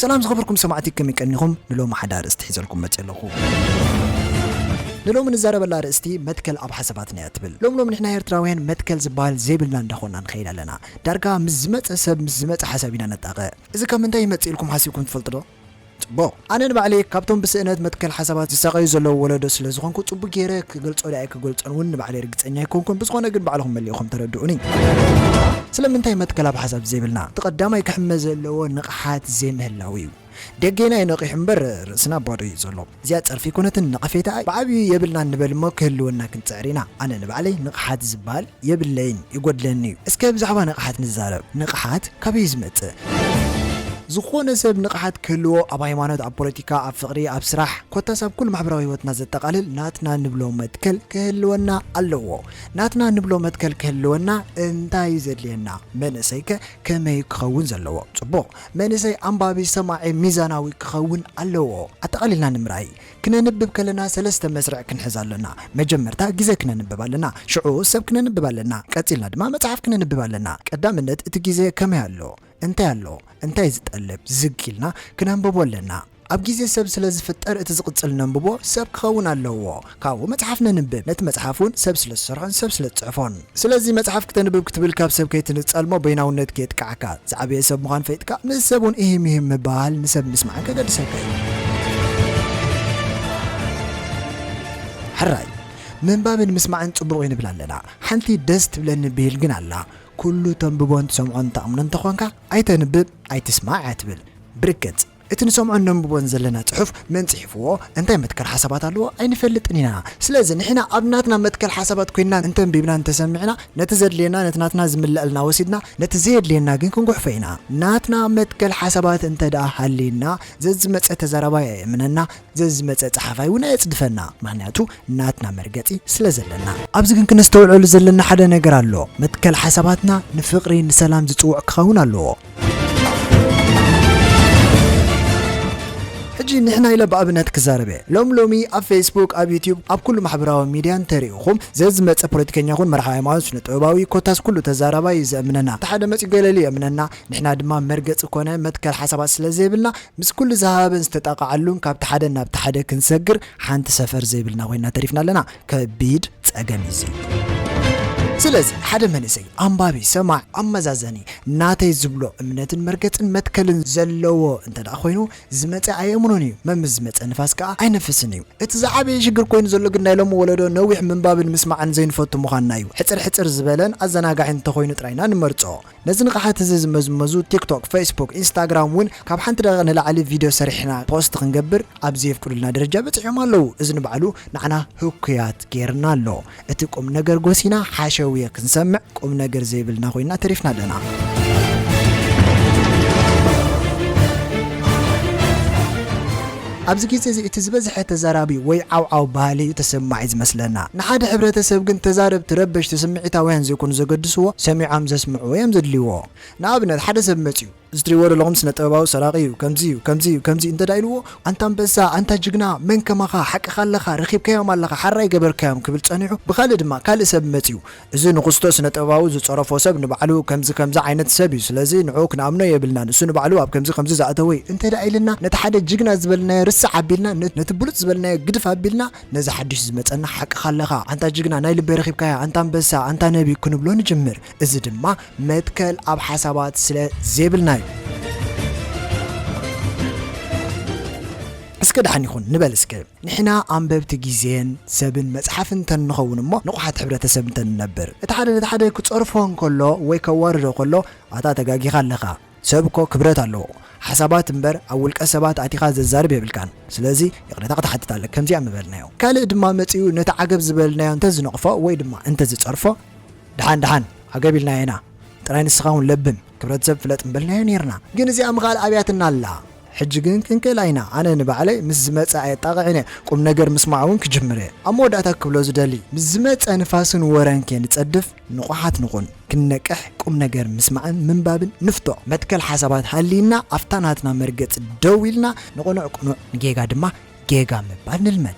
ሰላም ዝኸበርኩም ሰማዕቲ ከመይ ቀኒኹም ንሎሚ ሓደ ኣርእስቲ ሒዘልኩም መጽ ኣለኹ ንሎሚ ንዛረበላ ኣርእስቲ መትከል ኣብ ሓሳባትና እያ ትብል ሎም ሎም ንሕና ኤርትራውያን መትከል ዝበሃል ዘይብልና እንዳኾንና ንኸይድ ኣለና ዳርጋ ምስ ዝመጸ ሰብ ምስ ዝመጸ ሓሳብ ኢና ነጣቕዕ እዚ ካብ ምንታይ ይመጽእ ኢልኩም ሓሲብኩም ትፈልጡ ዶ ጽቡቕ። ኣነ ንባዕለይ ካብቶም ብስእነት መትከል ሓሳባት ዝሳቐዩ ዘለዉ ወለዶ ስለ ዝኾንኩ ጽቡቕ ገይረ ክገልጾ ድኣ ኣይክገልጾን ውን ንባዕለይ ርግጸኛ ኣይኮንኩን። ብዝኾነ ግን ባዕልኹም መሊእኹም ተረድኡኒ። ስለምንታይ መትከል ኣብ ሓሳብ ዘይብልና? እቲ ቀዳማይ ክሕመ ዘለዎ ንቕሓት ዘይምህላው'ዩ። ደጌና እዩ ነቒሑ እምበር ርእስና ባዶ እዩ ዘሎ። እዚኣ ጸርፊ ኣይኮነትን ነቐፌታ እያ። ብዓቢኡ የብልናን ንበል እሞ ክህልወና ክንጽዕር ኢና። ኣነ ንባዕለይ ንቕሓት ዝብሃል የብለይን ይጎድለኒ እዩ። እስከ ብዛዕባ ንቕሓት ንዛረብ። ንቕሓት ካበይ እዩ ዝመጽእ? ዝኾነ ሰብ ንቕሓት ክህልዎ ኣብ ሃይማኖት ኣብ ፖለቲካ ኣብ ፍቕሪ ኣብ ስራሕ ኮታስ ኣብ ኩሉ ማሕበራዊ ህይወትና ዘጠቓልል ናትና ንብሎ መትከል ክህልወና ኣለዎ። ናትና ንብሎ መትከል ክህልወና እንታይ እዩ ዘድልየና? መንእሰይከ ከመይ እዩ ክኸውን ዘለዎ? ጽቡቕ! መንእሰይ ኣንባቢ ሰማዒ ሚዛናዊ ክኸውን ኣለዎ። ኣጠቓሊልና ንምርኣይ፣ ክነንብብ ከለና ሰለስተ መስርዕ ክንሕዝ ኣሎና። መጀመርታ ግዜ ክነንብብ ኣለና፣ ሽዑ ሰብ ክነንብብ ኣለና፣ ቀጺልና ድማ መጽሓፍ ክነንብብ ኣለና። ቀዳምነት እቲ ግዜ ከመይ ኣሎ፣ እንታይ ኣሎ፣ እንታይ ዝጠልብ ዝግ ኢልና ክነንብቦ ኣለና። ኣብ ግዜ ሰብ ስለ ዝፍጠር እቲ ዝቕጽል ነንብቦ ሰብ ክኸውን ኣለዎ። ካብኡ መጽሓፍ ነንብብ። ነቲ መጽሓፍ ውን ሰብ ስለ ዝሰርሖን ሰብ ስለ ዝጽሕፎን። ስለዚ መጽሓፍ ክተንብብ ክትብል ካብ ሰብ ከይትንጸል'ሞ በይናውነት ከየጥቅዓካ። ዝዓበየ ሰብ ምዃን ፈይጥካ ምስ ሰብ ውን ኢሂም ኢሂም ምብህሃል ንሰብ ምስማዕን ከገድሰካ እዩ። ሕራይ ምንባብን ምስማዕን ጽቡቕ እዩ ንብል ኣለና። ሓንቲ ደስ ትብለኒ ብሂል ግን ኣላ። ኩሉ ተንብቦን ትሰምዖን ተኣምኖ እንተኾንካ ኣይተንብብ ኣይትስማዕ እያ ትብል። ብርግጽ! እቲ ንሰምዖን ነንብቦን ዘለና ጽሑፍ መን ጽሒፍዎ እንታይ መትከል ሓሳባት ኣለዎ ኣይንፈልጥን ኢና። ስለዚ ንሕና ኣብ ናትና መትከል ሓሳባት ኮይንና እንተንቢብናን እንተሰሚዕና ነቲ ዘድልየና ነቲ ናትና ዝምለኣልና ወሲድና ነቲ ዘየድልየና ግን ክንጉሕፎ ኢና። ናትና መትከል ሓሳባት እንተድኣ ሃልዩና ዘዝመጸ ተዛራባይ ኣይእመነና ዘዝመጸ ጸሓፋይ ውን ኣየጽድፈና ምክንያቱ ናትና መርገጺ ስለ ዘለና። ኣብዚ ግን ክነስተውዕለሉ ዘለና ሓደ ነገር ኣሎ መትከል ሓሳባትና ንፍቅሪ ንሰላም ዝጽውዕ ክከውን ኣለዎ። ሕጂ ንሕና ኢለ ብኣብነት ክዛረብ እየ ሎሚ ሎሚ ኣብ ፌስቡክ ኣብ ዩቱብ ኣብ ኩሉ ማሕበራዊ ሚድያ እንተሪእኹም ዘዝመጸ ፖለቲከኛ ይኹን መራሒ ሃይማኖት ስነ ጥበባዊ ኮታስ ኩሉ ተዛራባይ እዩ ዘእምነና እንተ ሓደ መጽዩ ገለሊ የእምነና ንሕና ድማ መርገጺ ኮነ መትከል ሓሳባት ስለ ዘይብልና ምስ ኩሉ ዝሃሃበን ዝተጣቓዓሉን ካብቲ ሓደ ናብቲ ሓደ ክንሰግር ሓንቲ ሰፈር ዘይብልና ኮይና ተሪፍና ኣለና። ከቢድ ጸገም እዩ እዚ። ስለዚ ሓደ መንእሰይ ኣንባቢ፣ ሰማዕ፣ ኣመዛዘኒ፣ ናተይ ዝብሎ እምነትን መርገጽን መትከልን ዘለዎ እንተደኣ ኮይኑ ዝመጸ ኣየእምኖን እዩ፣ መምስ ዝመጸ ንፋስ ከኣ ኣይነፍስን እዩ። እቲ ዝዓበየ ሽግር ኮይኑ ዘሎ ግን ናይ ሎሚ ወለዶ ነዊሕ ምንባብን ምስማዕን ዘይንፈቱ ምዃንና እዩ። ሕጽር ሕጽር ዝበለን ኣዘናጋዕን እንተኾይኑ ጥራይ ኢና ንመርጾ። ነዚ ንቕሓት እዚ ዝመዝመዙ ቲክቶክ፣ ፌስቡክ፣ ኢንስታግራም እውን ካብ ሓንቲ ደቒቕ ንላዕሊ ቪድዮ ሰሪሕና ፖስት ክንገብር ኣብ ዘየፍቅዱልና ደረጃ በጺሖም ኣለዉ። እዚ ንባዕሉ ንዓና ህኩያት ገይርና ኣሎ። እቲ ቁምነገር ጎሲና ሓሸውየ ክንሰምዕ ቁምነገር ዘይብልና ኮይንና ተሪፍና ኣለና። ኣብዚ ግዜ እዚ እቲ ዝበዝሐ ተዛራቢ ወይ ዓውዓው በሃሊ እዩ ተሰማዒ ዝመስለና። ንሓደ ሕብረተሰብ ግን ተዛረብቲ ረበሽቲ ስምዒታውያን ዘይኮኑ ዘገድስዎ ሰሚዖም ዘስምዕዎ እዮም ዘድልይዎ። ንኣብነት ሓደ ሰብ መጺኡ። እዚ ትሪእዎ ዘለኹም ስነ ጥበባዊ ሰራቂ እዩ ከምዚ እዩ ከምዚ እዩ ከምዚ እዩ እንተድኣ ኢልዎ ኣንታ ኣንበሳ ኣንታ ጅግና መን ከማኻ ሓቅኻ ኣለኻ ረኺብካዮም ኣለኻ ሓራ ኣይገበርካዮም ክብል ጸኒሑ ብኻልእ ድማ ካልእ ሰብ መጺኡ እዚ ንኹስቶ ስነ ጥበባዊ ዝጸረፎ ሰብ ንባዕሉ ከምዚ ከምዚ ዓይነት ሰብ እዩ ስለዚ ንዕኡ ክንኣምኖ የብልናን እሱ ንባዕሉ ኣብ ከምዚ ከምዚ ዝኣተወ እዩ እንተ ደኣ ኢልና ነቲ ሓደ ጅግና ዝበልናዮ ርስዕ ኣቢልና ነቲ ብሉጽ ዝበልናዮ ግድፍ ኣቢልና ነዚ ሓድሽ ዝመጸና ሓቅኻ ኣለኻ ኣንታ ጅግና ናይ ልበይ ረኺብካያ ኣንታ ኣንበሳ ኣንታ ነቢ ክንብሎ ንጅምር እዚ ድማ መትከል ኣብ ሓሳባት ስለ ዜብልና እዩ። እስከ ደሓን ይኹን ንበል እስከ። ንሕና ኣንበብቲ ግዜን ሰብን መጽሓፍን እንተ ንኸውን እሞ ንቑሓት ሕብረተሰብ እንተ ንነብር። እቲ ሓደ ነቲ ሓደ ክጸርፎ እንከሎ ወይ ከዋርዶ ከሎ ኣታ ተጋጊኻ ኣለኻ ሰብ እኮ ክብረት ኣለዎ ሓሳባት እምበር ኣብ ውልቀ ሰባት ኣቲኻ ዘዛርብ የብልካን ስለዚ ይቕሬታ ክትሓትት ኣለካ ከምዚኣ ምበልናዮ። ካልእ ድማ መጺኡ ነቲ ዓገብ ዝበልናዮ እንተ ዝነቕፎ ወይ ድማ እንተ ዝጸርፎ ደሓን ደሓን ዓገብ ኢልና ኢና ጥራይ ንስኻ ውን ለብም ክብረተሰብ ፍለጥ ምበልናዮ ኔርና ግን እዚኣ ምኻል ኣብያትና ኣላ። ሕጂ ግን ክንክእላ ኢና ኣነ ንባዕለይ ምስ ዝመጸ ኣየጣቕዕን እየ ቁም ነገር ምስማዕ ውን ክጅምር እየ ኣብ መወዳእታ ክብሎ ዝደሊ ምስ ዝመጸ ንፋስን ወረን ከይንጸድፍ ንቑሓት ንኹን ክንነቅሕ ቁም ነገር ምስማዕን ምንባብን ንፍቶ መትከል ሓሳባት ሃልይና ኣብታ ናትና መርገጺ ደው ኢልና ንቕኑዕ ቅኑዕ ንጌጋ ድማ ጌጋ ምባል ንልመድ።